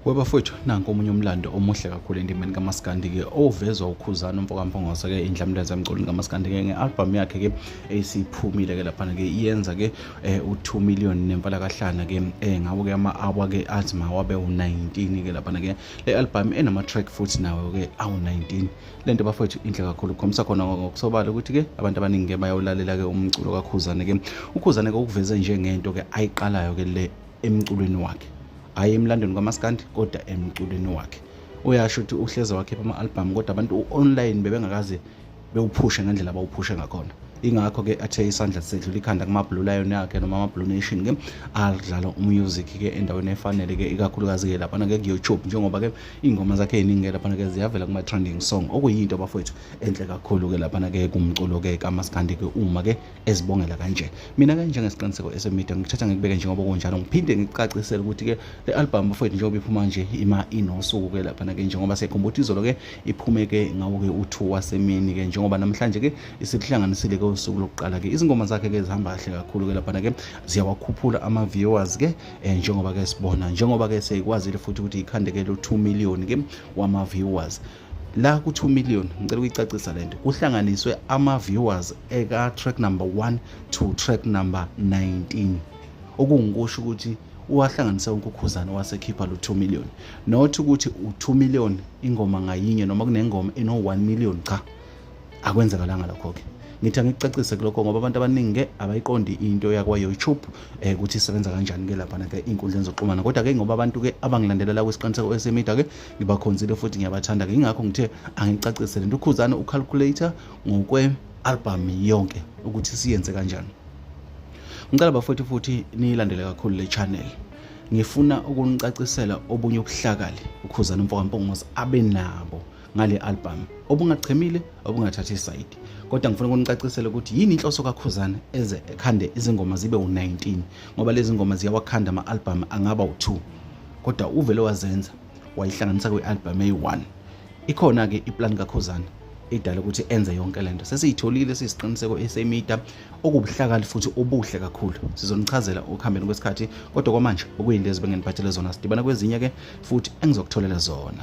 webafowethu nanku omunye umlando omuhle kakhulu endimeni kamaskandi-ke ovezwa ukhuzana umfokamphongose-ke indlamlenza emculweni kamaskandi-ke nge-albhamu yakhe-ke esiphumile-ke laphana-ke iyenza-ke eh, u-two million nemfalakahlana-ke um eh, ngawo-ke ama-awa-ke athi mawabe u-nineteen-ke laphana-ke le albhamu enama-track futhi nawo-ke awu-nineteen le nto bafowethu inhle kakhulu kukhombisa khona ngokusobala ukuthi-ke abantu abaningi-ke bayawulalela-ke umculo kakhuzane-ke ukhuzane-ke ukuveze njengento-ke ayiqalayo-ke le emculweni wakhe hhayi emlandweni kamaskandi kodwa emculweni wakhe uyasho ukuthi uhleze wakhipha ama-albhamu kodwa abantu u-online bebengakaze bewuphushe ngendlela abawuphushe ngakhona ingakho-ke athe isandla sedlula ikhanda kuma-blue lion yakhe noma ama-blue nation ke adlala umusic-ke endaweni efanele-ke ikakhulukazi-ke laphana-ke kuyoutube njengoba-ke iy'ngoma zakhe yiningi-ke laphana-ke ziyavela kuma-trending song okuyinto bafowethu enhle kakhulu-ke laphana-ke kumculo-ke kamaskandi-ke uma-ke ezibongela kanje mina-ke njengesiqiniseko esemide ngikuthatha ngikubeke njengoba kunjalo ngiphinde ngikucacisele ukuthi-ke le albhamu bafowethu njengoba iphuma nje ima inosuku-ke laphana-ke njengoba sekhumbula ukuthi izolo-ke iphume-ke ngawo-ke u-two wasemini-ke njengoba namhlanje-ke isikuhlanganisile-ke usuku lokuqala-ke izingoma zakhe-ke zihamba kahle kakhulu-ke laphana-ke ziyawakhuphula ama-viewers-ke eh, njengoba ke sibona njengoba ke seyikwazile futhi ukuthi ikhandekele u2 million ke wama viewers la ku2 million ngicela ukuyicacisa lento kuhlanganiswe ama viewers eka track number 1 to track number 19 okungikusho ukuthi uwahlanganise wonke ukhuzane wasekhipha lo 2 million not ukuthi u2 million ingoma ngayinye noma kunengoma eno 1 million cha akwenzekalanga lokho-ke ngithi angikucacise kulokho ngoba abantu abaningi-ke abayiqondi into yakwa-youtube um ukuthi isebenza kanjani-ke laphana-ke iy'nkundleni zokuxhumana kodwa-ke ngoba abantu-ke abangilandelela kwisiqiniseko esemida-ke ngibakhonzile futhi ngiyabathanda-ke yingakho ngithe angicacise le nto ukhuzane ucalculator ngokwe-album yonke ukuthi siyenze kanjani ngicela bafowethu futhi niyilandele kakhulu le channel ngifuna ukunicacisela obunye ubuhlakali ukhuzana umfoka mpongozi abe nabo ngale album obungachemile obungathathi isayidi kodwa ngifuna ukunicacisela ukuthi yini inhloso kakhuzana eze ekhande izingoma zibe u-19 ngoba lezi ngoma ziyawakhanda ama-albhamu angaba u-2 kodwa uvele wazenza wayihlanganisa kwi-albhamu eyi-1 ikhona-ke iplan kakhuzana idala ukuthi enze yonke lento sesiyitholile siyisiqiniseko esemida okubuhlakali futhi obuhle kakhulu sizonichazela ukuhambeni kwesikhathi kodwa kwamanje okuyinto ezibengenibathele zona sidibana kwezinye ke futhi engizokutholela zona